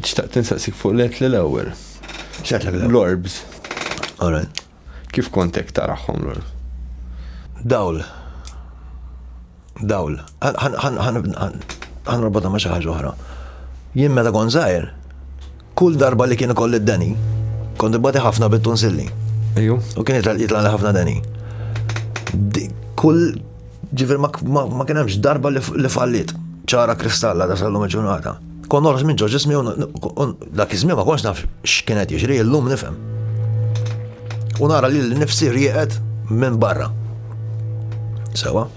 Xtaqt insaqsik fuq l-et l-ewel. Xtaqt l-ewel? L-orbs. Alright. Kif kontek taraħħom l-orbs? Dawl. Dawl. Għan rabota ma xaħġa oħra. Jien meta kon zaħir, kull darba li kien kolli d-deni, kont ibbati ħafna bit-tunsilli. Ejju. U kien jitla li ħafna deni. Kull ġifir ma kien hemmx darba li fallit ċara kristalla da sallu meġunata. Kon norqos minn ġo ġismi u dak iż-żmien ma konx naf x'kien qed jiġri, illum nifhem. U nara li l-nifsi rieqet minn barra. Sewa.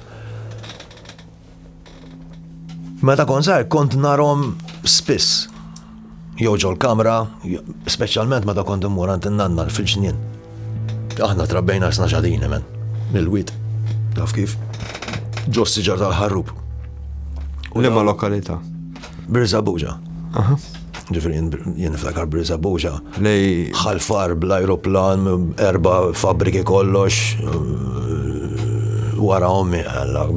Meta kon żgħir kont narhom spiss. Jew ġol kamra, speċjalment meta kont immur għand in-nanna fil-ġnien. Aħna trabbejna isna xadini men, mill-wit, taf kif, ġos siġar tal-ħarrub. U l-imma lokalita? Birza Buġa. Ġifri, jien niftakar Birza Buġa. Lej. ħalfar bl-aeroplan, erba fabriki kollox, wara ommi għalla,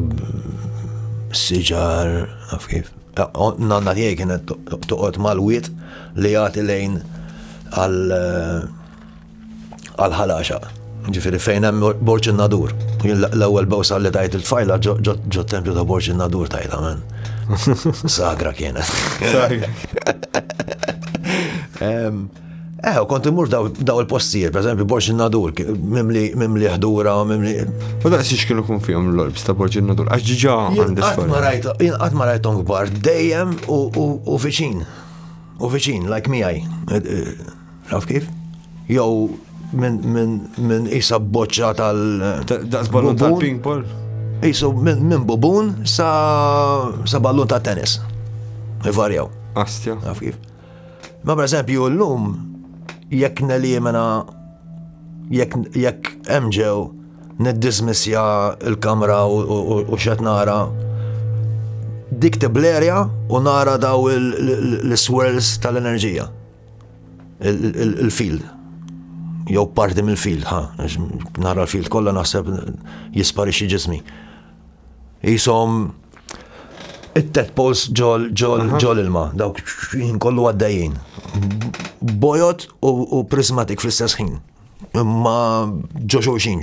siġar, taf kif. Nanna tiegħi kienet toqgħod mal-wit li jagħti lejn għal għal-ħalaxa. Ġifiri fejn hemm borċin nadur. L-ewwel bawsa li tajt il-tfajla ġo tempju ta' borċin nadur tajta men. Sagra kienet. Eh, kont imur daw il-postijiet, per eżempju, borċin nadur, mimli ħdura, mimli. U da' s-siex kienu kun fihom l-lorbs ta' borċin nadur, għax ġiġa għandis. Għat ma rajtom gbar, dejjem u viċin. U viċin, like miħaj. Taf kif? Jew minn isa boċċa tal. Daqs ballun tal-ping pong. Isu minn bubun sa ballun ta' tennis. Ivarjaw. Astja. Taf kif? Ma per eżempju l-lum jekk nelimina jekk emġew niddismissja il-kamra u xet nara dik tiblerja u nara daw l-swirls tal-enerġija. il-field jew parti mill-field, ha, nara l-field kollha naħseb jisparixxi ġismi. Jisom it-tet pols ġol ġol ġol ilma, dawk kollu għaddejjin. Bojot u prismatik fl-istess ħin. Ma ġoxoxin.